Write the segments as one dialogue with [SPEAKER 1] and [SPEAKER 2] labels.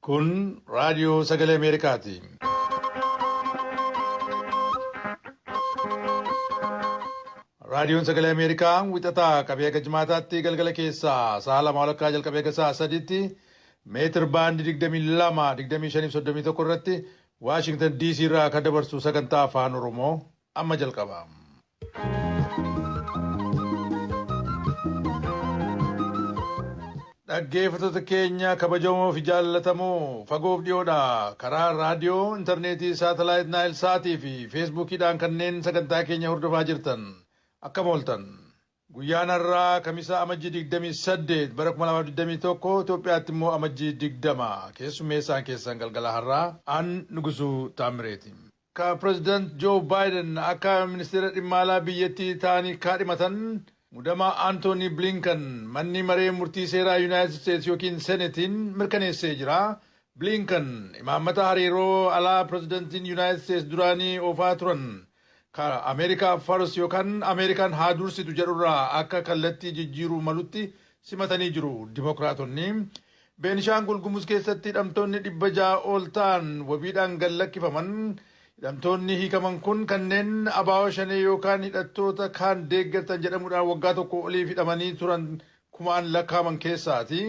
[SPEAKER 1] Kun raadiyoo sagalee Ameerikaati. Raadiyoon sagalee Ameerikaa wixataa qabee haga jimaataatti galgala keessaa sa'a lama walakkaa jalqabee haga sa'a sadiitti meetir baandii digdamii lama digdamii shanii fi soddomii tokko irratti Waashingtan DC irraa kan dabarsu sagantaa afaan Oromoo amma jalqaba. Dhaggeeffattoota keenya kabajamoo fi jaallatamoo fagoof dhiyoodhaa karaa raadiyoo, intarneetii, saatalaayit Naayil Saatii fi Feesbuukiidhaan kanneen sagantaa keenya hordofaa jirtan akkam ooltan. Guyyaan har'aa Kamisaa Amajjii 28 bara 2021 Itoophiyaatti immoo Amajjii 20 keessummeessaan keessan galgala har'aa an Nugusuu Taammireeti. ka Pireezidant Joo Baayiden akka Ministeera Dhimma Alaa biyyattii ta'anii kaadhimatan mudama Antoonii Bliinkan Manni Maree Murtii Seeraa Yunaayitid Isteets ykn Senetiin mirkaneessee jira. Bliinkan imaammata hariiroo alaa Pireezidantiin Yunaayitid Isteets duraanii oofaa turan ka Ameerikaa First yookaan Ameerikaan haa dursitu jedhurraa akka kallattii jijjiiruu malutti simatanii jiru Dimokiraatonni. Beenishaangul Gumuz keessatti hidhamtoonni 600 ol ta'an wabiidhaan gad lakkifaman Hidhamtoonni hiikaman kun kanneen Abaawo Shanee yookaan hidhattoota kaan deeggartan jedhamuudhaan waggaa tokkoo oliif hidhamanii turan kumaan lakkaa'aman keessaati.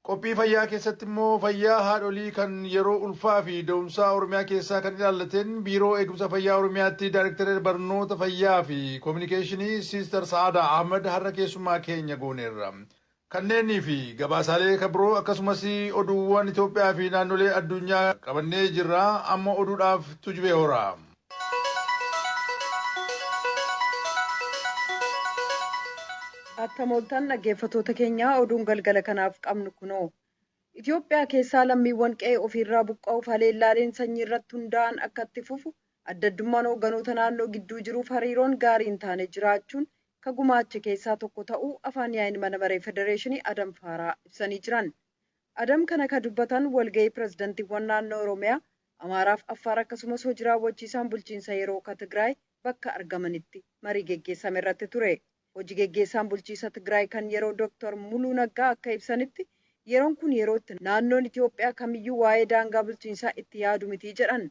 [SPEAKER 1] Qophii fayyaa keessatti immoo fayyaa haadholii kan yeroo ulfaa fi da'umsaa Oromiyaa keessaa kan ilaallateen Biiroo Eegumsa Fayyaa Oromiyaatti Daayrektarri Barnoota Fayyaa fi Kominikeeshinii Siister Sa'aadaa Ahmad har'a keessummaa keenya gooneerra. Kanneenii fi gabaasaalee ka biroo akkasumas oduuwwan Itoophiyaa fi naannolee addunyaa qabannee jirra. Amma oduudhaaf Tujubee Horaa.
[SPEAKER 2] Attam ooltan dhaggeeffatoota keenyaa oduun galgala kanaaf qabnu kunoo. Itoophiyaa keessaa lammiiwwan qe'ee ofiirraa buqqa'uuf haleellaaleen sanyii irratti hundaa'an akka itti fufu Adda addummaan hoogganoota naannoo gidduu jiruuf hariiroon gaarii hin taane jiraachuun ka gumaache keessaa tokko ta'uu Afaan Yaa'iin Mana Maree Federeeshinii Adam Faaraa ibsanii jiran. Adam kana ka dubbatan walga'ii pirezidantiiwwan naannoo Oromiyaa, Amaaraaf Affaar akkasumas hoji raawwachiisaan bulchiinsa yeroo ka Tigraay bakka argamanitti marii geggeessame irratti ture. Hoji geggeessaan bulchiisa Tigraay kan yeroo Dr. Muluu Naggaa akka ibsanitti yeroon kun yeroo itti naannoon Itoophiyaa kamiyyuu waa'ee daangaa bulchiinsaa itti yaadu miti jedhan.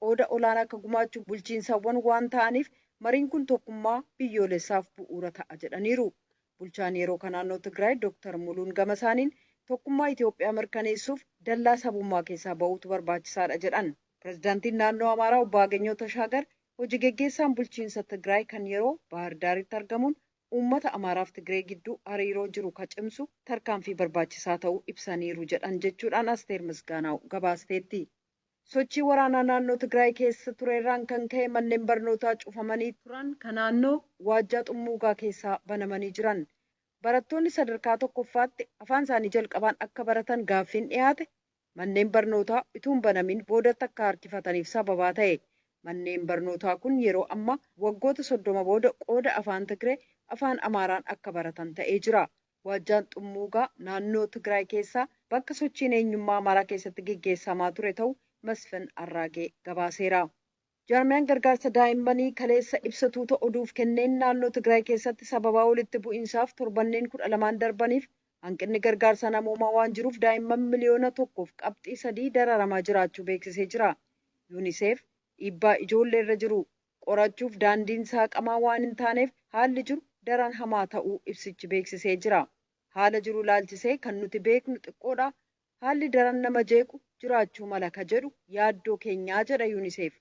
[SPEAKER 2] qooda olaana akka gumaachu bulchiinsawwan waan ta'aniif mariin kun tokkummaa biyyoolessaaf bu'uura ta'a jedhaniiru. Bulchaan yeroo ka naannoo Tigraay Dooktar Muluun gamasaaniin, tokkummaa Itoophiyaa mirkaneessuuf dallaa sabummaa keessaa ba'uutu barbaachisaadha jedhan. Pirezidaantiin naannoo Amaaraa Obbo Agenyoo Tashaagar hojigeggeessaan bulchiinsa Tigraay kan yeroo Baahir Daaritti argamuun uummata Amaaraaf Tigree gidduu hariiroo jiru ka cimsu tarkaanfii barbaachisaa ta'uu ibsaniiru jedhan jechuudhaan Asteer Misgaanaaw gabaasteetti. Sochii waraanaa naannoo Tigraay keessa tureerraan kan ka'e manneen barnootaa cufamanii turan ka naannoo Waajjaa Xummuugaa keessaa banamanii jiran. Barattoonni sadarkaa tokkoffaatti afaan isaanii jalqabaan akka baratan gaaffiin dhiyaate manneen barnootaa utuu hin banamin boodatti akka harkifataniif sababaa ta'e. Manneen barnootaa kun yeroo ammaa waggoota soddoma booda qooda afaan Tigree afaan Amaaraan akka baratan ta'ee jira. Waajjaan Xummuugaa naannoo Tigraay keessaa bakka sochiin eenyummaa Amaaraa keessatti geggeessaamaa ture ta'u Masfin Arraagee gabaaseera. Jaarmiyaan gargaarsa daa'immanii kaleessa ibsa tuuta oduuf kenneen naannoo Tigraay keessatti sababaa walitti bu'iinsaaf torbanneen 12n darbaniif hanqinni gargaarsa namoomaa waan jiruuf daa'imman miliyoona 1f qabxii 3 dararamaa jiraachuu beeksisee jira. Yuuniseef dhiibbaa ijoollee irra jiru qorachuuf daandiin saaqamaa waan hin taaneef haalli jiru daran hamaa ta'uu ibsichi beeksisee jira. Haala jiru ilaalchisee kan nuti beeknu xiqqoodha, haalli daran nama jeequ jiraachuu mala ka jedhu yaaddoo keenyaa jedha Unicef.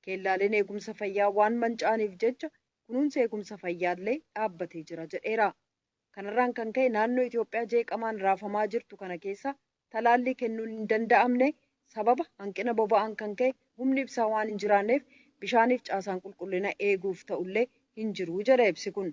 [SPEAKER 2] Keellaaleen eegumsa fayyaa waan manca'aniif jecha kunuunsi eegumsa fayyaallee dhaabbatee jira jedheera. Kanarraan kan ka'e naannoo Itoophiyaa jeeqamaan raafamaa jirtu kana keessa talaallii kennuun hin danda'amne, sababa hanqina boba'aan kan ka'e humni ibsaa waan hin jiraanneef bishaaniif caasaan qulqullina eeguuf ta'ullee hin jiru jedha ibsi kun.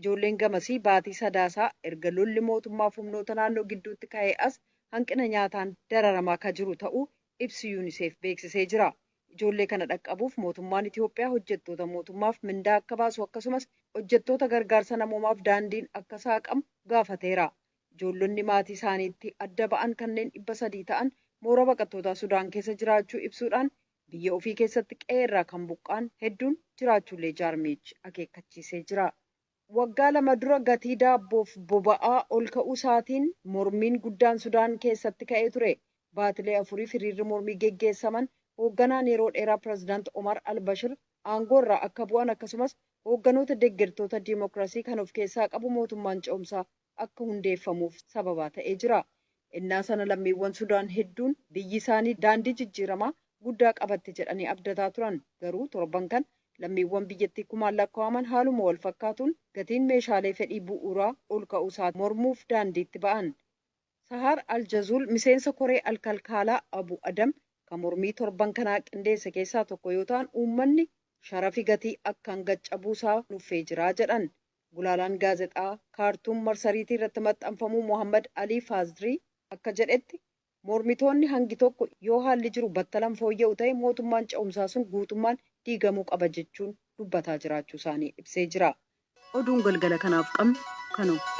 [SPEAKER 2] Ijoolleen gamasii baatii Sadaasaa erga lolli mootummaaf humnoota naannoo gidduutti ka'ee as hanqina nyaataan dararamaa ka jiru ta'uu ibsi Unicef beeksisee jira. Ijoollee kana dhaqqabuuf mootummaan Itiyoophiyaa hojjettoota mootummaaf mindaa akka baasu akkasumas hojjettoota gargaarsa namoomaaf daandiin akka saaqamu gaafateera. Ijoollonni maatii isaaniitti adda ba'an kanneen 300 ta'an mooraa baqattootaa Sudaan keessa jiraachuu ibsuudhaan biyya ofii keessatti qe'ee irraa kan buqqa'an hedduun jiraachuullee jaarmiyichi akeekkachiisee jira. Waggaa lama dura gatii daabboof boba'aa ol ka'uu isaatiin mormiin guddaan Sudaan keessatti ka'ee ture. Baatilee afuriif hiriirri mormii geggeessaman hoogganaan yeroo dheeraa Pirezidaant Omar al-Bashir aangoo irraa akka bu'an akkasumas hoogganoota deggertoota dimokirasii kan of keessaa qabu mootummaan ce'umsaa akka hundeeffamuuf sababaa ta'ee jira. Ennaa sana lammiiwwan Sudaan hedduun biyyi isaanii daandii jijjiiramaa guddaa qabatti jedhanii abdataa turan. Garuu torban kana lammiiwwan biyyattii kumaan lakkaa'aman haaluma wal fakkaatuun gatiin meeshaalee fedhii bu'uuraa ol ka'uu isaa mormuuf daandiitti ba'an. Sahaar al-Jazuul miseensa koree al-Kalkaalaa Abu Adam ka mormii torban kanaa qindeesse keessaa tokko yoo ta'an uummanni sharafi gatii akkaan gad cabuu isaa nuffee jira jedhan. Gulaalaan gaazexaa Kaartuum marsariitii irratti maxxanfamuu Mohaammad Alii Faazrii akka jedhetti, mormitoonni hangi tokko yoo haalli jiru battalan fooyya'u ta'e mootummaan ce'umsaa sun guutummaan diigamuu qaba jechuun dubbataa jiraachuu isaanii ibsee jira. Oduun galgala kanaaf qabnu kanuma.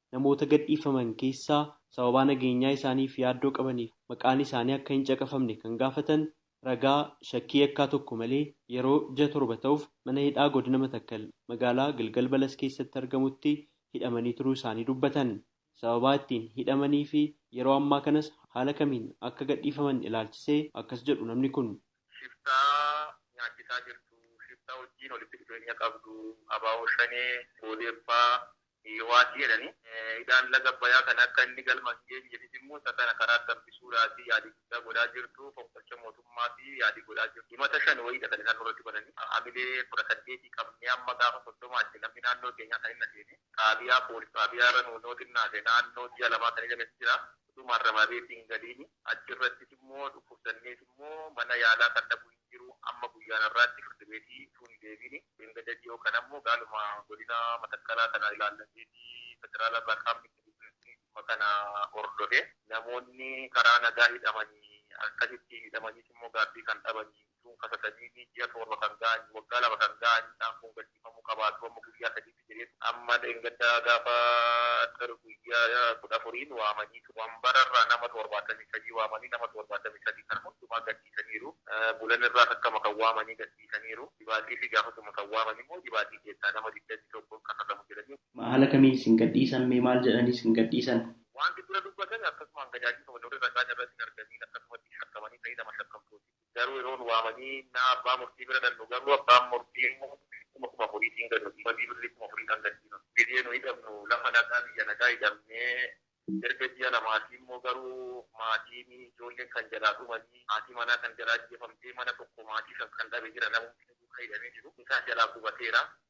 [SPEAKER 3] namoota gadhiifaman keessaa sababaa nageenyaa isaaniif yaaddoo qabaniif maqaan isaanii akka hin caqafamne kan gaafatan ragaa shakkii yakkaa tokko malee yeroo ji'a torba ta'uuf mana hidhaa godina Matakkal magaalaa Gilgal Balas keessatti argamutti hidhamanii turuu isaanii dubbatan. Sababaa ittiin hidhamanii fi yeroo ammaa kanas haala kamiin akka gadhiifaman ilaalchisee akkas jedhu namni kun. Shiftaa
[SPEAKER 4] nyaachisaa jirtu, shiftaa wajjiin walitti dhufeenya qabdu, abo Shanee, Odeeffaa, Yihowaatti jedhanii, hidhaan laga Abbayaa kana akka inni galma hin geenyeefis immoo isa kana karaatti hambisuudhaatii yaalii guddaa godhaa jirtu, fonqolcha mootummaaf yaalii godhaa jirtu. Himata shan wayiidha kan isaan nurratti bananii. Hamilee 18 qabnee amma gaafa 30tti namni naannoo keenyaa kan hin aseenee, xaabiyaa, poolis xaabiyaa irra nuunoo xinnaate naannoo ji'a lamaa kan hidhames jira. Utuu maarramabeetii hin galiini. Achi irrattis immoo dhukkubsannees immoo mana yaalaa kan dhaqu hin jiru. Amma guyyaan har'aatti firdi beetii utuu hin deebiini. Dheengadda dhiyoo kana immoo gaaluma godina Matakkalaa kana ilaallateetii federaala irraa qaamni itti dhufeetii dhimma kana hordofe. Namoonni karaa nagaa hidhamani akkasitti hidhamaniis immoo gaaffii kan dhabanii. Jechuun kasa sadiitii ji'a torba kan ga'anii waggaa lama kan ga'anii isaan kun gadhiifamuu qabaatu amma guyyaa sadiitti jedhee ture. Amma dheengadda gaafa Xir guyyaa kudha afuriin waamanii ture. Wambararraa nama torbaatamii sadii waamanii nama torbaatamii sadii kana hundumaa gadhiisaniiru. Bulanirraas akkama kan waamanii gadhiisaniiru. Jibaatiifi gaafasuma kan waaman immoo Jibaatii keessaa nama digdamii tokko hin kafasamu jedhanii. Ma haala kamiin isin
[SPEAKER 3] gadhiisan mee maal jedhanii isin gadhiisan? Waanti dura dubbatan
[SPEAKER 4] akkasumaan gadaadii kabaja warri ragaan irratti hin argamiin akkasumatti shakkamanii ta'ii lama shakkamtooti. Garuu yeroo nu waamanii ennaa abbaa murtii bira dhaqnu garuu abbaan murtii immoo kuma kuma afuriitiin gad nu dhiibanii birrii kuma afuriidhaan gad dhiibama. Gizee nu hidhamnu lafa nagaa biyya nagaa hidhamnee erga ji'a lamaatii immoo garuu maatiin ijoolleen kan jalaa dhumanii haati manaa kan jalaa ajjeefamtee mana tokko maatii shan kan dhabe jira namumti nu duukaa hidhamee jiru isaan jalaa gubateera.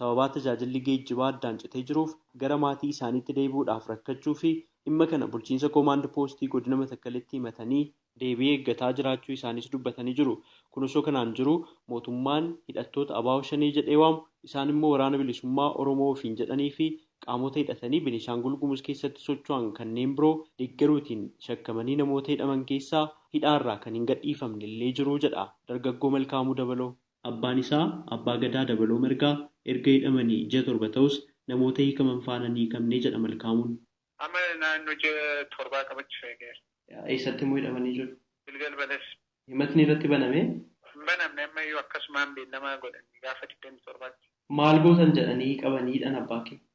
[SPEAKER 3] sababaa tajaajilli geejjibaa addaan citee jiruuf gara maatii isaaniitti deebi'uudhaaf rakkachuu fi dhimma kana bulchiinsa Koomaand Poostii Godina Matakkalitti himatanii deebii eeggataa jiraachuu isaaniis dubbatanii jiru. Kun osoo kanaan jiruu mootummaan hidhattoota abo Shanee jedhee waamu, isaan immoo Waraana Bilisummaa Oromoo ofiin jedhanii fi qaamota hidhatanii Benishaangul Gumuz keessatti socho'an kanneen biroo deeggaruutiin shakkamanii namoota hidhaman keessaa hidhaa irraa kan hin gadhiifamne illee jiru jedha Dargaggoo Malkaamuu Dabaloo. Abbaan isaa Abbaa Gadaa Dabaloo Margaa erga hidhamanii ji'a torba ta'us namoota hiikaman faana hin hiikamne jedha Malkaamuun. Amma naannoo
[SPEAKER 4] ji'a torbaa qabachuuf eegeera. Eessatti immoo hidhamanii
[SPEAKER 3] jiru? Gilgal Balasi.
[SPEAKER 4] Himatni irratti
[SPEAKER 3] banamee? Hin banamne ammayyuu
[SPEAKER 4] akkasumaan beellama godhanii gaafa digdamii torbaatti. Maal gootan
[SPEAKER 3] jedhanii qabanii hidhan abbaa kee?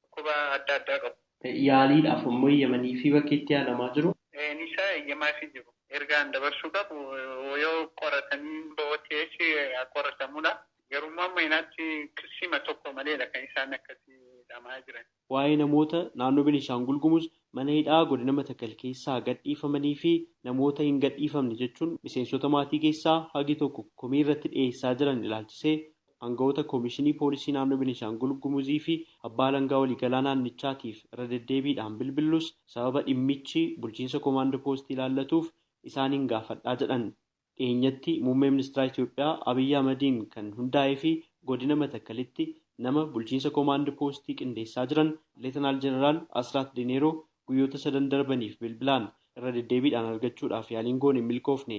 [SPEAKER 4] dhukkuba adda addaa qabu. yaaliidhaaf ammoo
[SPEAKER 3] eeyyamanii fi bakki itti yaalamaa jiru. nisaa eeyyamaafii
[SPEAKER 4] jiru. ergaan dabarsuu qabu yoo qoratanii boo TH haa qoratamuudha. Garuu immoo amma yoonaatti kissiima tokko maleedha kan isaan akkasi hidhamaa jiran. Waa'ee namoota
[SPEAKER 3] naannoo Benishaangul Gumuz mana hidhaa godina Matakal keessaa gad dhiifamanii fi namoota hin gadhiifamne jechuun miseensota maatii keessaa hagi tokko komii irratti dhiyeessaa jiran ilaalchisee Aanga'oota Komishinii Poolisii Naannoo Benishaangul Gumuzii fi Abbaa Alangaa Waliigalaa Naannichaatiif irra deddeebiidhaan bilbillus sababa dhimmichi bulchiinsa Komaand Poostii ilaallatuuf isaaniin gaafadhaa jedhan. Dhiyeenyatti Muummee Ministiraa Itoophiyaa Abiy Ahmadiin kan hundaa'ee fi Godina Matakkalitti nama bulchiinsa Komaand Poostii qindeessaa jiran Leetanaal Jeneraal Asraat Dineeroo guyyoota sadan darbaniif bilbilaan irra deddeebiidhaan argachuudhaaf yaaliin goone hin milkoofne.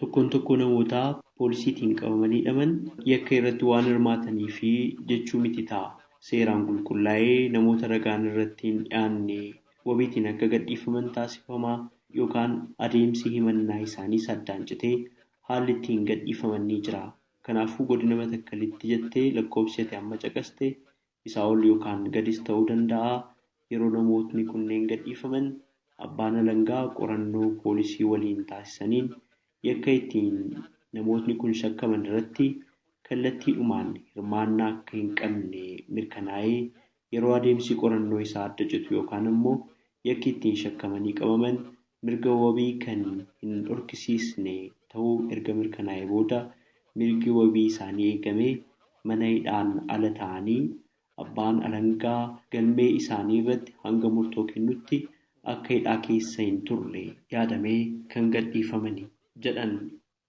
[SPEAKER 3] Tokkoon tokkoo namootaa poolisiitiin qabamanii hidhaman yakka irratti waan hirmaataniifi jechuu miti ta'a. Seeraan qulqullaa'ee namoota ragaan irratti hin dhiyaanne wabiitiin akka gadhiifaman taasifama yookaan adeemsi himannaa isaaniis addaan citee haalli ittiin gadhiifaman ni jira. Kanaafuu Godina Matakkalitti jettee lakkoofsi ati amma caqaste Isaa ol yookaan gadis ta'uu danda'a, yeroo namootni kunneen gadhiifaman abbaan alangaa qorannoo poolisii waliin taasisaniin yakka ittiin namootni kun shakkaman irratti kallattiidhumaan hirmaannaa akka hin qabne mirkanaa'ee yeroo adeemsi qorannoo isaa adda citu yookaan ammoo yakki ittiin shakkamanii qabaman mirga wabii kan hin dhorkisiisne ta'uu erga mirkanaa'ee booda mirgi wabii isaanii eegamee mana hidhaan ala taa'anii abbaan alangaa galmee isaanii irratti hanga murtoo kennutti akka hidhaa keessa hin turre yaadamee kan gadhiifamani jedhan.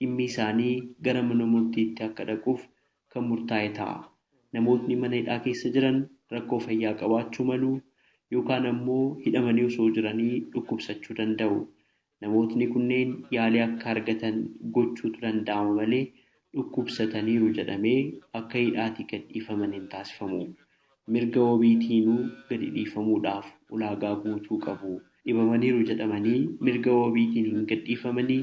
[SPEAKER 3] dhimmi isaanii gara mana murtiitti akka dhaquuf kan murtaa'e ta'a. Namootni mana hidhaa keessa jiran rakkoo fayyaa qabaachuu malu yookaan ammoo hidhamanii osoo jiranii dhukkubsachuu danda'u. Namootni kunneen yaalii akka argatan gochuutu danda'ama malee dhukkubsataniiru jedhamee akka hidhaatii gad dhiifaman hin taasifamu. Mirga wabiitiinuu gadi dhiifamuudhaaf ulaagaa guutuu qabu. Dhibamaniiru jedhamanii mirga wabiitiin hin gadhiifamanii?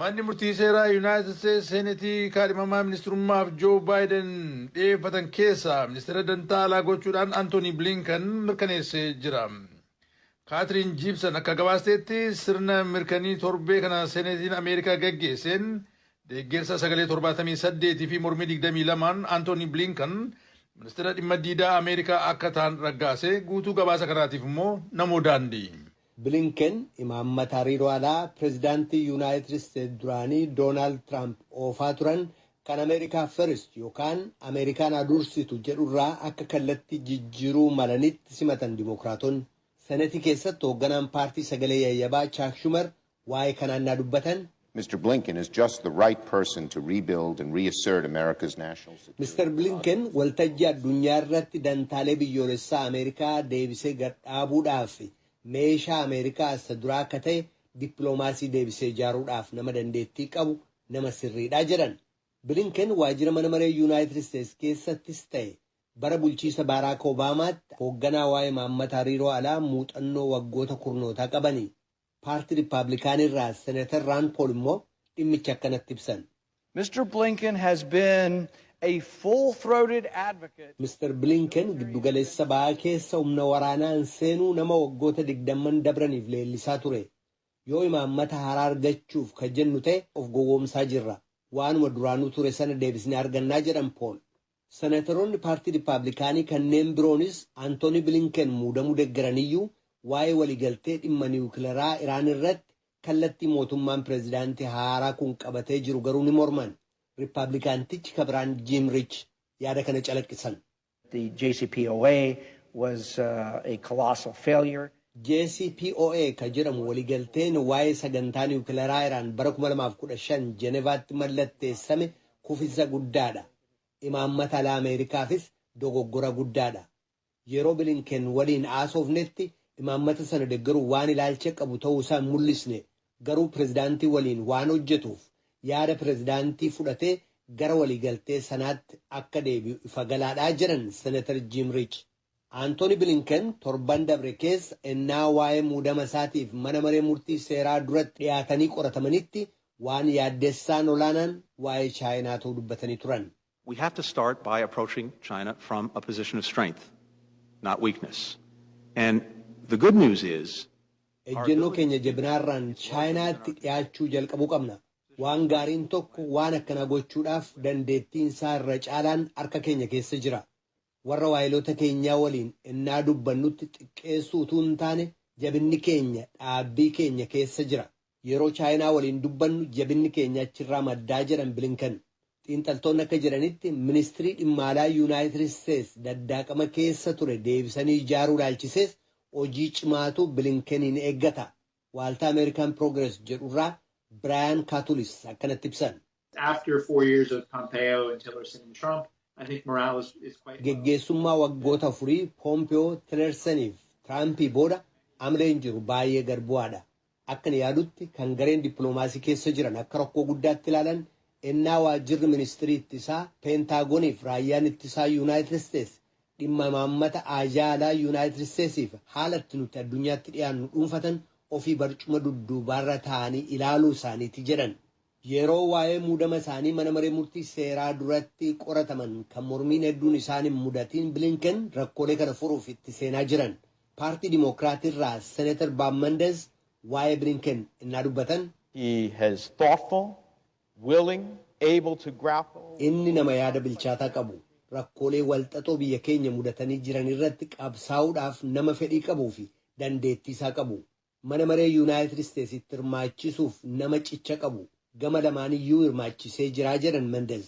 [SPEAKER 1] Manni Murtii Seeraa Yunaayitid Isteets Seenetii kaadhimamaa ministirummaaf Joo Baayiden dhiyeeffatan keessaa Ministira Dantaa Alaa gochuudhaan Antoonii Bilinkan mirkaneessee jira. Kaatiriin Jiibsan akka gabaasteetti sirna mirkanii torbee kana Seenetiin Ameerikaa gaggeesseen deeggersa sagalee 78 fi mormii 22n Antoonii Bilinkan Ministira Dhimma Diidaa Ameerikaa akka taan raggaase guutuu gabaasa kanaatiif immoo namoo daandii. Bilinken
[SPEAKER 5] imaammata hariiroo alaa Pireezidaantii Yuunaayitid Isteets duraanii Doonaald Tiraamp oofaa turan kan Ameerikaa First yookaan Ameerikaan haa dursitu jedhurraa akka kallattii jijjiiruu malanitti simatan Dimookiraatonni. Senetii keessatti hoogganaan paartii sagalee yayyabaa Chaak Shumar waa'ee kanaa ennaa dubbatan. Mr Blinken is
[SPEAKER 6] just the right person to rebuild and reassert America's national security values. Mr Blinken
[SPEAKER 5] waltajjii addunyaa irratti dantaalee biyyoolessaa Ameerikaa deebisee gad dhaabuudhaaf meeshaa Ameerikaa isa duraa akka ta'e dippiloomaasii deebisee ijaaruudhaaf nama dandeettii qabu nama sirriidha jedhan. Blinken waajjira mana maree Yunaayitid Isteets keessattis ta'e bara bulchiisa Baaraak Obaamaatti hoogganaa waa'ee imaammata hariiroo alaa muuxannoo waggoota kurnootaa qabani. Paartii Rippaablikaanii irraa Senator Rand Paul immoo dhimmicha akkanatti ibsan. Mr Blinken
[SPEAKER 7] has been a full throated advocate. Mr Blinken
[SPEAKER 5] giddu galeessa bahaa keessa humna waraanaan seenuu nama waggoota digdamman dabraniif leellisaa ture. Yoo imaammata haaraa argachuuf ka jennu ta'e of gowwoomsaa jirra. Waanuma duraanuu ture sana deebisnee argannaa jedhan Paul. Seneteroonni paartii Rippaablikaanii kanneen biroonis Antoonii Bilinken muudamuu deggeraniyyuu waa'ee waliigaltee dhimma niwukilaraa Iraan irratti kallattii mootummaan pirezidaantii haaraa kun qabatee jiru garuu ni morman. Rippaablikaantichi ka biraan Jiim Riich yaada kana calaqqisan. The
[SPEAKER 7] JCPOA was a colossal failure. JCPOA
[SPEAKER 5] ka jedhamu waliigalteen waa'ee sagantaa niwukilaraa Iraan bara 2015 Jenevaatti mallatteessame kufinsa guddaadha. imaammata alaa Ameerikaafis dogoggora guddaadha. Yeroo Bilinken waliin haasofnetti imaammata sana deggeruuf waan ilaalcha qabu ta'uu isaa hin mul'isne, garuu pirezidaantii waliin waan hojjetuuf yaada pirezidaantii fudhatee gara waliigaltee sanaatti akka deebi'u ifa galaadha, jedhan Senatar Jiim Riich. Antooni Bilinken torban dabre keessa ennaa waa'ee muudama isaatiif mana maree murtii seeraa duratti dhiyaatanii qoratamanitti waan yaaddessaan olaanaan waa'ee Chaayinaa ta'uu dubbatanii turan. We have to start
[SPEAKER 8] by approaching China from a position of strength, not weakness. And the good news is, Ejjennoo keenya
[SPEAKER 5] jabinaarraan Chaayinaatti dhiyaachuu jalqabuu qabna. Waan gaariin tokko waan akkanaa gochuudhaaf dandeettiin isaa irra caalaan harka keenya keessa jira. Warra waayiloota keenyaa waliin ennaa dubbannutti xiqqeessuu utuu hin taane, jabinni keenya dhaabbii keenya keessa jira. Yeroo Chaayinaa waliin dubbannu jabinni keenya achirraa maddaa jedhan Bilinken. Xiinxaltoonni akka jedhanitti Ministrii Dhimma Alaa Yunaayitid Isteets daddaaqama keessa ture deebisanii ijaaruu ilaalchisees hojii cimaatu Bilinkeniin eeggata. Waaltaa American Progress jedhurraa Biraayan Kaatulis akkanatti ibsan.
[SPEAKER 9] Geggeessummaa waggoota
[SPEAKER 5] afurii Poompeyoo, Tilersaniif Tiraampii booda amleen jiru baay'ee gad bu'aadha. Akkan yaadutti kan gareen dippiloomaasii keessa jiran akka rakkoo guddaatti ilaalan ennaa waajjirri ministirii ittisaa, Peentaagoniif raayyaan ittisaa Yuunaayitid Isteets dhimma imaammata aajaa alaa Yuunaayitid Isteetsiif haala itti nuti addunyaatti dhiyaannu dhuunfatan ofii barcuma dudduubaarra taa'anii ilaaluu isaaniiti jedhan. Yeroo waa'ee muudama isaanii mana maree murtii seeraa duratti qorataman kan mormiin hedduun isaan hin mudatiin Bilinken rakkoolee kana furuuf itti seenaa jiran. Paartii Dimookiraat irraa Senator Bob Mendez waa'ee Bilinken ennaa dubbatan. He has
[SPEAKER 10] thoughtful, willing, able to grapple with. Inni nama yaada
[SPEAKER 5] bilchaataa qabu, rakkoolee walxaxoo biyya keenya mudatanii jiran irratti qabsaa'uudhaaf nama fedhii qabuu fi dandeettii isaa qabu. Mana Maree Yunaayitid Isteetsitti hirmaachisuuf nama cicha qabu gama lamaaniyyuu hirmaachisee jira jedhan Mendez.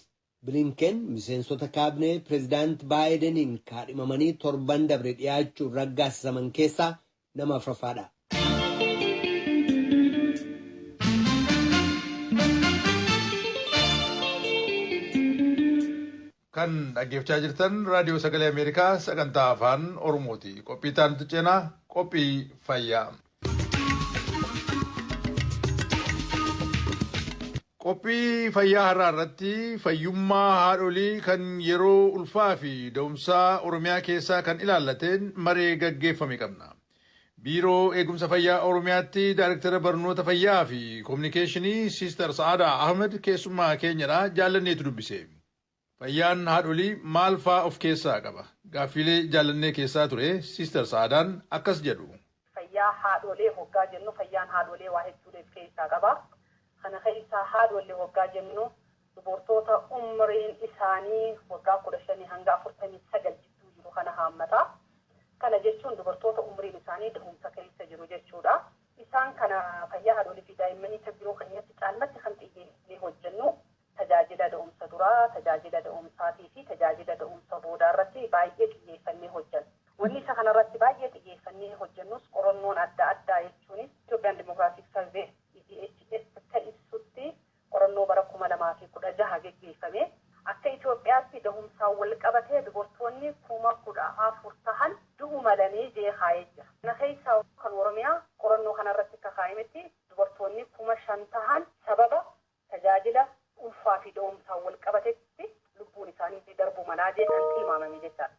[SPEAKER 5] Bilinken miseensota kaabinee Pireezidaant Baayideniin kaadhimamanii torban dabre dhiyaachuun raggaasisaman keessaa nama afraffaadha.
[SPEAKER 1] Kan dhaggeeffchaa jirtan Raadiyoo Sagalee Ameerikaa sagantaa Afaan Oromooti. Qophii itti aanutti ceena qophii fayyaa. Qophii fayyaa har'aa irratti fayyummaa haadholii kan yeroo ulfaa fi da'umsaa Oromiyaa keessaa kan ilaallateen maree gaggeeffame qabna. Biiroo Eegumsa Fayyaa Oromiyaatti Daariktara Barnoota Fayyaa fi Kominikeeshinii Siister Sa'aadaa Ahmed keessummaa keenyadha jaallanneetu dubbise. Fayyaan haadholii maal faa of keessaa qaba? Gaaffiilee jaallannee keessaa ture Sister Sa'aadaan akkas jedhu. Fayyaa haadholee
[SPEAKER 11] hoggaa jennu fayyaan haadholee waa hedduulee if keessaa qaba. Kana keessaa haadholle hoggaa jennu dubortoota umriin isaanii waggaa 15 hanga 49 jidduu jiru kana haammata. Kana jechuun dubartoota umriin isaanii dahumsa keessa jiru jechuudha. Isaan kana fayyaa haadholii fi daa'immanii kan biroo keenyatti caalmatti kan xiyyeeffanee hojjennu Tajaajila da'umsa duraa, tajaajila da'umsaatii fi tajaajila da'umsa boodaa irratti baay'ee xiyyeeffannee hojjenna. Wanni isa kana irratti baay'ee xiyyeeffannee hojjennus qorannoon adda addaa jechuunis Ethiopian Demographic Survey, EDHS, akka ibsutti qorannoo bara 2016 geggeeffame akka Itoophiyaatti dahumsaan wal qabatee dubartoonni 14,000 tahan du'u malanii jee kaayee jira. Kana keessaa kan Oromiyaa qorannoo kana irratti akka kaaymetti dubartoonni 5,000 tahan sababa tajaajila ulfaa fi da'umsaan wal qabatetti lubbuun isaaniitii darbu malaa jee kan tilmaamame jechaadha.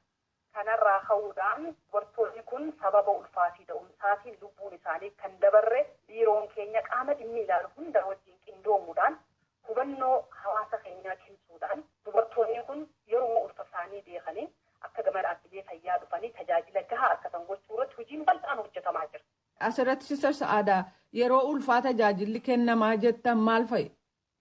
[SPEAKER 11] Kanarraa ka'uudhaan dubartoonni kun sababa ulfaa fi da'umsaatiin lubbuun isaanii kan dabarre biiroon keenya qaama dhimmi ilaalu hundaa wajjiin qindoomuudhaan hubannoo hawaasa keenyaa cimsuudhaan dubartoonni kun yeruma ulfa isaanii beekanii akka gama dhaabbilee fayyaa dhufanii tajaajila gahaa argatan gochuu irratti hojiin bal'aan hojjetamaa jira. Asirratti Sister
[SPEAKER 12] Sa'aada yeroo ulfaa tajaajilli kennamaa jettan maal fa'i?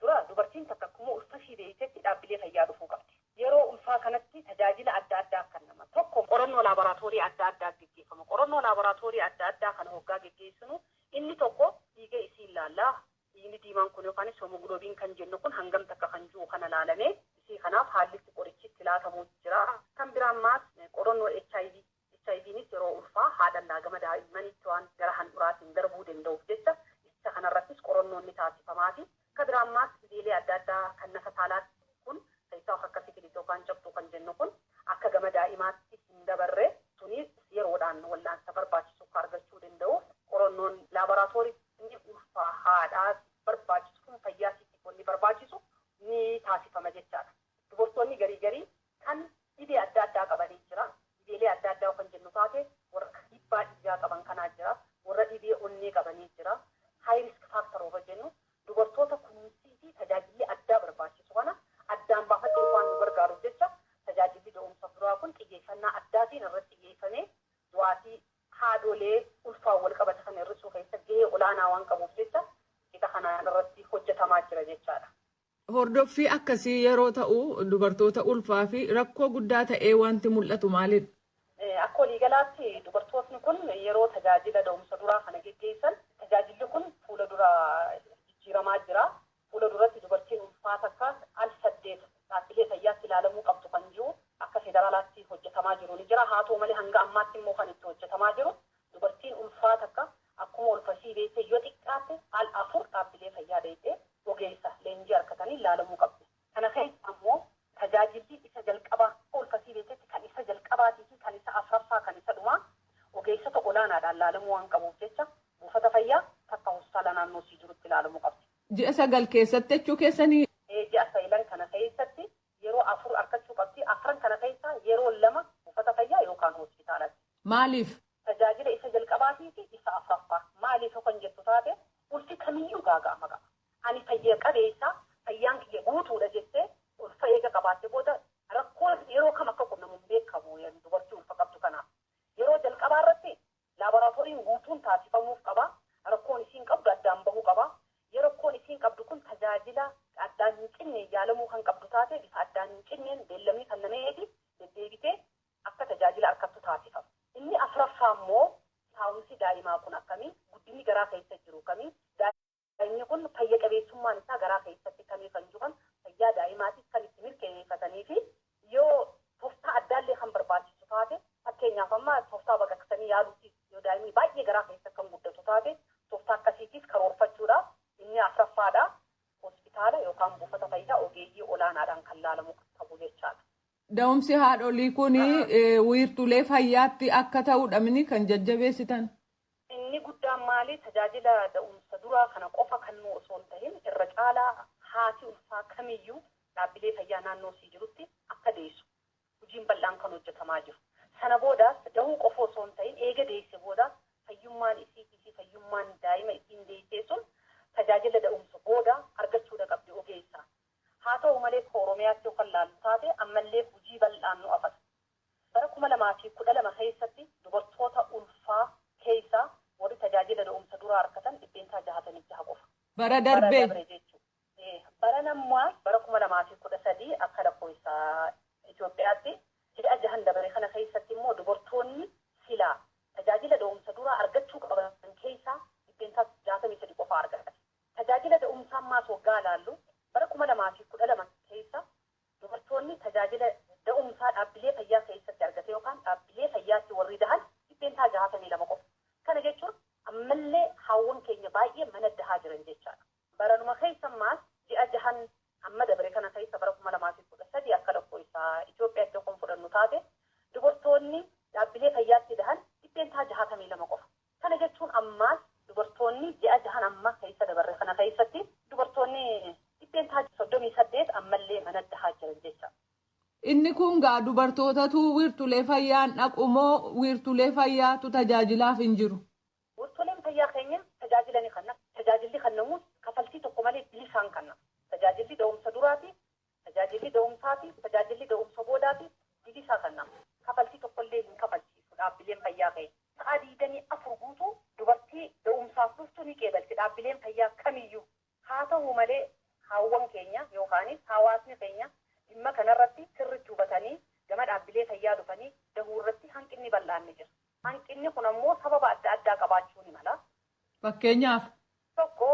[SPEAKER 12] Dura dubartiin
[SPEAKER 11] takka akkuma ulfa ishii beektetti dhaabbilee fayyaa dhufuu qabdi. Yeroo ulfaa kanatti tajaajila adda addaa kennama. Tokko qorannoo laaboraatoorii adda addaa geggeeffama. Qorannoo laaboraatoorii adda addaa kana hoggaa geggeessinu inni tokko dhiiga isii ilaalla. Dhiigni diimaan kun yookaanis homoglobin kan jennu kun hangam takka kan jiru kana ilaalamee isii kanaaf haalli itti qorichi itti laatamu jira. Kan biraan maas qorannoo HIV HIVnis yeroo ulfaa haadhallaa gama daa'immaniittiwaan gara handhuraatiin darbuu denda'uuf jecha isa kanarrattis qoronnoon ni taasifamaafi. Ka biraammaas dhibeelee adda addaa kan nafa saalaatti kun keessaa of akka sifilis yookaan cabxuu kan jennu kun akka gama daa'imaatti hin dabarre sunis yeroodhaan wal'aansa barbaachisukka argachuu denda'uuf qoronnoon laaboraatooritti inni ulfaa haadhaatiif barbaachisu kun fayyaa tiitiif wanni barbaachisu ni taasifama jechaadha. Dubartoonni garii garii Kan dhibee adda addaa qabanee jira. Dhibeelee adda addaa yoo kan jennu taate warra kan dhiibbaa dhiigaa qaban kanaa jira. Warra dhibee onnee qabanee jira. High risk factor warra jennu dubartoota kunuunsii fi tajaajilli addaa barbaachisu kana addaan baafachuuf waan nu gargaaruuf jecha tajaajilli da'umsa duraa kun xiyyeeffannaa addaatiin irratti xiyyeeffamee du'aatii haadholee ulfaan wal qabate kana hir'isuu keessa gahee olaanaa waan qabuuf jecha qixa kanaan irratti hojjetamaa jira jechaa dha. Hordoffii
[SPEAKER 12] akkasii yeroo ta'u dubartoota ulfaafi rakkoo guddaa ta'ee wanti mul'atu maalidha? Akka
[SPEAKER 11] waliigalaatti dubartootni kun yeroo tajaajila da'umsa duraa kana geggeessan tajaajilli kun fuula dura jijjiiramaa jira. Fuula duratti dubartiin ulfaa takka al saddeet dhaabbilee fayyaatti ilaalamuu qabdu kan jiru akka federaalaatti hojjetamaa jiru ni jira. Haata'u malee hanga ammaatti immoo kan itti hojjetamaa jiru dubartiin ulfaa takka Akkuma ulfa sii deettee yoo xiqqaatte al 4 dhaabbilee fayyaa dheyxee ogeessa leenjii arkataniin laalamuu qabda. Kana keessa ammoo tajaajillii isa jalqabaa akka ulfa sii deettetti kan isa jalqabaatii fi kan isa 4ffaa kan isa dhumaa ogeessota olaanaadhaan laalamuu waan qabuuf jecha buufata fayyaa takka hospitaala naannoo sii jirutti laalamuu qabda. Ji'a 9
[SPEAKER 12] keessatti jechuu keessanii? Ee ji'a 9
[SPEAKER 11] kana keessatti yeroo afur arkachuu qabdi. Afran kana keessaa yeroo lama buufata fayyaa yookaan hospitaalatti. Maaliif?
[SPEAKER 12] Tajaajila isa
[SPEAKER 11] jalqabaatii fi isa afraffaa. Maaliif yoo kan jettu taate, ulfi kamiyyuu gaaga'ama qaba. Ani fayya qabeessa, fayyaan kiyya guutuudha jettee ulfa eega qabaatte booda rakkoo yeroo kam akka qunnamu hin beekamu dubartii ulfa qabdu kanaaf. Yeroo jalqabaa irratti Laaboraatooriin guutuun taasifamuuf qaba. Rakkoon isiin qabdu addaan bahuu qaba. Yoo rakkoon isiin qabdu kun tajaajila addaan hin cinneen yaalamuu kan qabdu taate bifa addaan hin cinneen beellamni kannameefi deddeebitee akka tajaajila arkattu taasifama. Inni afraffaa immoo taa'umsi daa'imaa kun akkami? Guddinni garaa keessa jiru kami? Sanyii kun fayya qabeessummaan isaa garaa keessatti kan ifan juhan fayyaa daa'imaatiif kan itti mirkaneefatanii fi yoo toftaa addaallee kan barbaachisu taate fakkeenyaaf amma toftaa baqaqsanii yaaluutiif yoo daa'imni baay'ee garaa keessa kan guddatu taate toftaa akkasiitiif karoorfachuudha. Inni afraffaa dha. Hospitaala yookaan buufata fayyaa ogeeyyii olaanaadhaan kan laalamu qabu jechaadha. Da'umsi
[SPEAKER 12] haadholii kun wiirtuulee fayyaatti akka ta'uudhamini kan jajjabeessitan? Inni
[SPEAKER 11] guddaan maali? Tajaajila da'umsa duraa kana qofa kannuu osoo hin tahin irra caalaa haati ulfaa kamiyyuu dhaabbilee fayyaa naannoo isii jirutti akka deessu hujiin bal'aan kan hojjatamaa jiru. Sana boodaas dahuu qofa osoo hin tahin eega deesse boodaas fayyummaan isiitii fi fayyummaan daa'ima isiin deessee sun tajaajila da'umsa booda argachuudha qabdi ogeessa Haa ta'u malee akka Oromiyaatti yoo kan laallu taate ammallee hujii bal'aan nu afata. Bara 2012 keessatti dubartoota ulfaa keessaa warri tajaajila da'umsa duraa arkatan %66 qofa. Bara darbe. Baran ammaas bara 2013 akka lakkoofsa Itoophiyaatti ji'a jahan dabare kana keessatti immoo dubartoonni silaa tajaajila da'umsa duraa argachuu qaban keessaa %63 qofaa argate. Tajaajila da'umsaa ammaas waggaa ilaallu, bara 2012 keessa dubartoonni tajaajila da'umsaa dhaabbilee fayyaa keessatti argate yookaan dhaabbilee fayyaatti warri dahan %62 qofa. Kana jechuun ammallee haawwan keenya baay'ee mana dahaa jiran jechaadha. Baranuma keessa ammaas ji'a jahan amma dabre kana keessa bara 2013 akka lakkooysa Itoophiyaatti yoo kan fudhannu taate dubartoonni dhaabbilee fayyaatti dahan %62 qofa. Kana jechuun ammaas dubartoonni ji'a jahan amma keessa dabarre kana keessatti dubartoonni %38 ammallee mana dahaa jiran jecha. Inni kun
[SPEAKER 12] gaa dubartootatu wiirtulee fayyaa hin dhaqu moo wiirtulee fayyaatu tajaajilaaf hin jiru? Wirtuleen fayyaa
[SPEAKER 11] keenya tajaajila ni kanna. Tajaajilli kannamuus kafaltii tokko malee bilisaan kanna. Tajaajilli da'umsa duraatii Tajaajilli da'umsaa fi tajaajilli da'umsa boodaatiif bilisaa kan nama. Kafaltii tokkollee hin kafalchiisu dhaabbileen fayyaa keenya. Sa'aa 24 guutuu dubartii da'umsaaf dhuftu ni qeebalti dhaabbileen fayyaa kamiyyuu. Haa tahu malee haawwan keenya yookaanis haawaasni keenya dhimma kanarratti sirritti hubatanii gama dhaabbilee fayyaa dhufanii dahuurratti hanqinni bal'aan ni jira. Hanqinni kun ammoo sababa adda addaa qabaachuu ni mala. Fakkeenyaaf.
[SPEAKER 12] tokko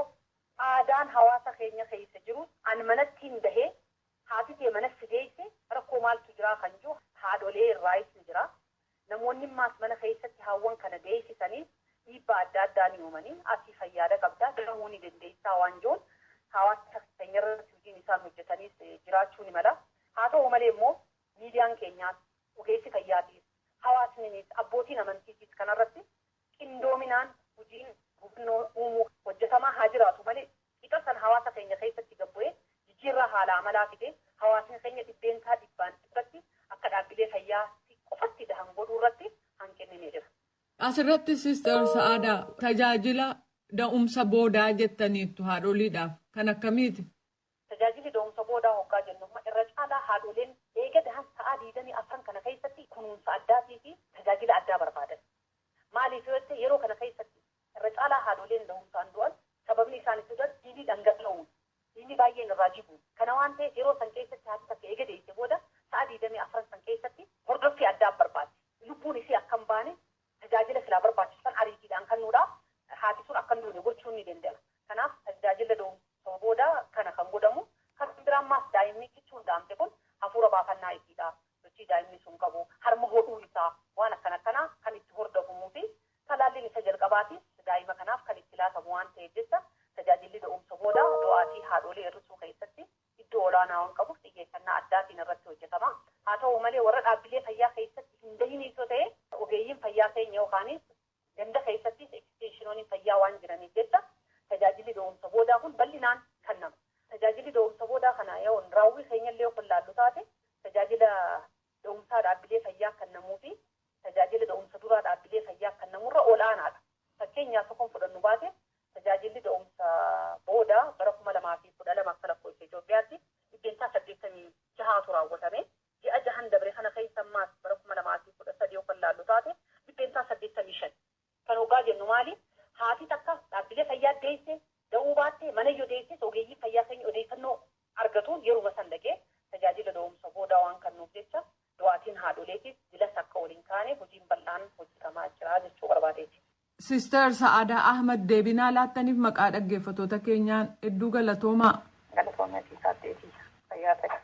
[SPEAKER 11] aadaan hawaasa keenya keessa jiru an manattiin bahee haati tee mana si deesse rakkoo maaltu jiraa kan juu haadholee irraayis ni jira. Namoonnimmaas mana keessatti haawwan kana deessisaniis dhiibbaa adda addaa ni uumani. Ati fayyaada qabda, dahuu ni dandeessaa waan juun hawaasa keenyarratti hojiin isaan hojjetaniis jiraachuu ni mala. Haa ta'uu malee immoo miidiyaan keenyaas, ogeessi fayyaatiis, hawaasniniis, abbootiin amantiitiis kanarratti qindoominaan hojiin hubannoo uumuu hojjetamaa haa jiraatu malee qixa san hawaasa keenya keessatti gad bu'ee jijjiirraa haala amalaa fidee hawaasni keenya dhibbeentaa dhibbaan dhibbatti akka dhaabbilee fayyaa tti qofatti dahan godhuu irratti hanqinni ni jira. As irratti
[SPEAKER 12] Sister Sa'aadaa, tajaajila da'umsa boodaa jettaniittu haadholiidhaaf, kan akkamiiti? Tajaajilli
[SPEAKER 11] da'umsa boodaa hoggaa jennu amma irra caalaa haadholeen eega dahan sa'aa 24n kana keessatti kunuunsa addaatii fi tajaajila addaa barbaadan. Maaliif yoo jette yeroo kana keessatti irra caalaa haadholeen dahumsaan du'an sababni isaan itti du'an dhiigni dhangala'uun, dhiigni baay'een irraa jiguun. Kana waan ta'eef yeroo san keessatti haati takka eega deesse booda sa'aa 24n san keessatti hordoffii addaa barbaaddi. Lubbuun isii akka hin baane Tajaajila silaa barbaachisu san ariitiidhaan kannuudha. Haati sun akka hin duune gochuun ni dende'ma. Kanaaf tajdaajilla do'umsa booda kana kan godhamu. Kan biraa ammaas daa'immi kichuun da'amte kun hafuura baafannaa isiidha, sochii daa'imni sun qabu, harma hodhuu isaa, waan akkana akkanaa kan itti hordafumuu fi talaalliin isa jalqabaatiis daa'ima kanaaf kan itti laatamu waan ta'eef jecha tajaajilli do'umsa booda do'aatii haadhoolii irrisuu keessatti iddoo olaanaa waan qabuuf xiyyeeffannaa addaatiin irratti hojjetama. Haa ta'uu malee warra dhaabbilee fayyaa keessatti hin gahiniis yoo ta'e ogeeyyiin fayyaa keenya yookaanis ganda keessattis ekisteenshinoonin fayyaa waan jiraniif jecha tajaajilli da'umsa boodaa kun bal'inaan kannama. Tajaajilli da'umsa boodaa kana yoo raawwii keenyallee yoo kan laallu taate tajaajila da'umsaa dhaabbilee fayyaa kannamuu fi tajaajila da'umsa duraa dhaabbilee fayyaa kannamurra ol'aanaadha. Fakkeenyaaf tokkon fudhannu baate Tajaajilli da'umsa boodaa bara 2012 akka lakkoofsa Itoophiyaatti dhibbeentaa 86tu raawwatame. Ji'a jahan dabre kana keessa ammaas bara 2013 yoo kan laallu taate dhibbeentaa 85. Kana oggaa jennu maali? Haati takka dhaabbilee fayyaa deesse, da'uu baatte, mana yoo deesses ogeeyyiin fayyaa keenya odeeffannoo argatuun yeruma san dhaqee tajaajila da'umsa boodaa waan kannuuf jecha du'aatiin haadholeetiis jilas akka ol hin kaane hojiin bal'aan hojjetamaa jira jechuu barbaadeeti. Sister
[SPEAKER 12] Sa'aadaa Ahmad deebii naa laattaniif maqaa dhaggeeffatoota keenyaan hedduu galatoomaa. Galatoomi atis
[SPEAKER 11] aaddee tiyya.
[SPEAKER 1] Fayyaa ta'i.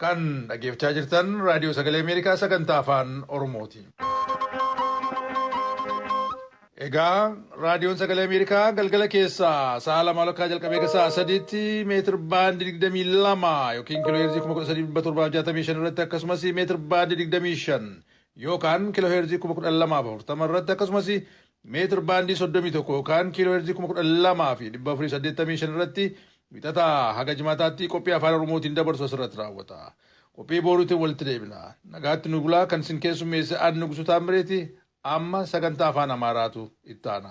[SPEAKER 1] Kan dhaggeeffachaa jirtan Raadiyoo Sagalee Ameerikaa sagantaa Afaan Oromooti. Egaa Raadiyoon Sagalee Ameerikaa galgala keessaa sa'a lama walakkaa jalqabee hanga sa'a sadiitti meetir baandii digdamii lama yookiin kiiloo heerzii kuma kudha sadii dhibba torbaaf jaatamii shan irratti akkasumas meetir baandii digdamii shan yookaan kiiloo heerzii kuma kudha lamaaf afurtama irratti akkasumas meetir baandii soddomii tokko yookaan kiiloo heerzii kuma kudha lamaa fi dhibba afurii saddeettamii shan irratti wixataa haga jimaataatti qophii afaan oromootiin dabarsu asirratti raawwata. Qophii booruutiin walitti deebina. Nagaatti nu bulaa kan isin keessummeesse aan nugusu taammireeti Amma sagantaa Afaan Amaaraatu itti aana.